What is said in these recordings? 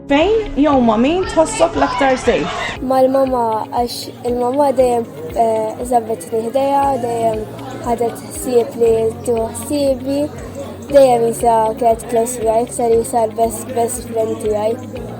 Fejn jew ma' min tħossok l-aktar sejf? Mal-mama għax il-mama dejjem eh, żabbet ħdejha, dejjem ħadet ħsieb li tieħu ħsiebi, dejjem jisa kienet close miegħi, ser jisa l-best best friend tiegħi.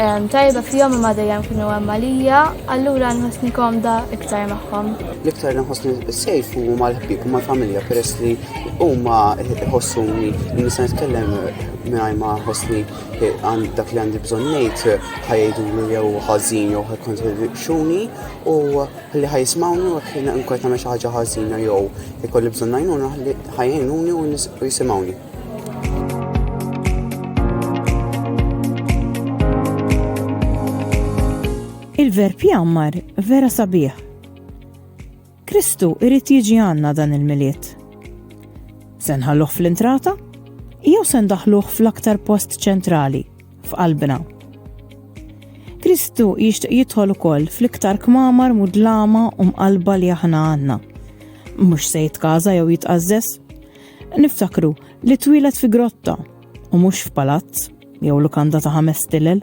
Tajba fihom imma dejjem kienu hemm għalija, allura nħossni komda iktar magħhom. L-iktar nħossni sejf u mal-ħbib u mal-familja peress li huma ħossuni li nista' nitkellem mingħajr ma ħossni għand dak li għandi bżonn ngħid ħajdulu jew ħażin jew ħajkontribixxuni u li ħajsmawni u ħin nkun tagħmel xi ħaġa ħażina jew ikolli bżonn għajnuna ħajjnuni u jisimgħuni. Il-verb jammar vera sabiħ. Kristu irrit jiġi għanna dan il-miliet. Sen ħalluħ fl-intrata? Jew sen daħluħ fl-aktar post ċentrali, f'qalbna. Kristu jixtieq jidħol ukoll fl-iktar kmamar mudlama u mqalba li aħna għandna. Mhux se jitkaża jew jitqażżes, Niftakru li twilet fi grotta u mhux f'palazz jew lukanda ta' ħames tilel.